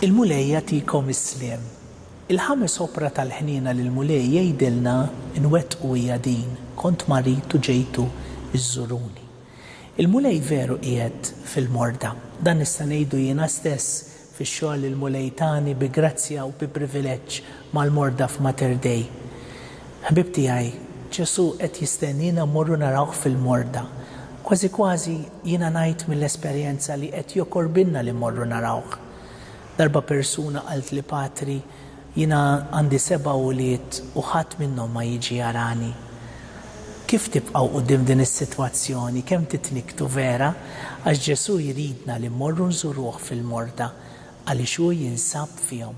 Il-Mulej jagħtikom is-sliem. Il-ħames opra tal-ħniena li l-Mulej jgħidilna nwettqu hija din, Kont marid u ġejtu żżuruni. Il-Mulej veru qiegħed fil-morda. Dan nista' ngħidu jiena stess fix-xogħol li l-Mulej tani bi grazzja u bi privileġġ mal-morda f'Mater Dei. Ħbieb tiegħi, Ġesù qed jistenniena mmorru narawh fil-morda. Kważi kważi jiena ngħid mill-esperjenza li qed jokorbilna li mmorru narawh. Darba persuna qaltli Patri, Jiena għandi seba' ulied u ħadd minnhom ma jiġi jarani. Kif tibqgħu quddiem din is-sitwazzjoni? Kemm titnikktu vera? Għax Ġesù jridna li mmorru nżuruh fil-morda għaliex hu jinsab fihom.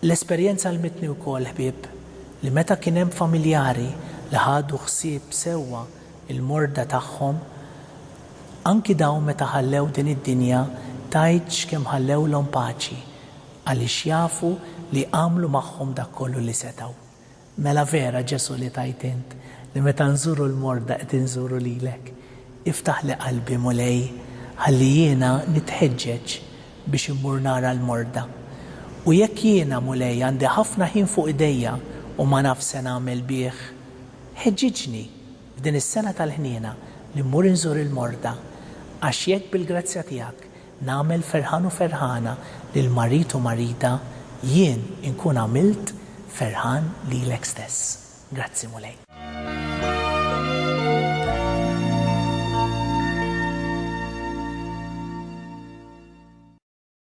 L-esperjenza għallmitni wkoll, ħbieb, li meta kien hemm familjari li ħadu ħsieb sewwa l-morda tagħhom, anki dawn meta ħallew din id-dinja tgħidx kemm ħallewlhom paċi, Għaliex jafu li għamlu magħhom dak kollu li setgħu. Mela vera Ġesù li tgħid int li meta nżuru l-morda qed inżuru lilek. Iftaħli qalbi Mulej ħalli jiena nitħeġġeġ biex immur nara l-morda. U jekk jiena Mulej għandi ħafna ħin fuq idejja u ma nafx se nagħmel bih, ħeġġiġni f'din is-sena tal-ħniena li mmur inżur il-morda għax jekk bil-grazzja tiegħek Nagħmel ferħan u ferħana lil marid u marida, jien inkun għamilt ferħan lilek stess. Grazzi, Mulej.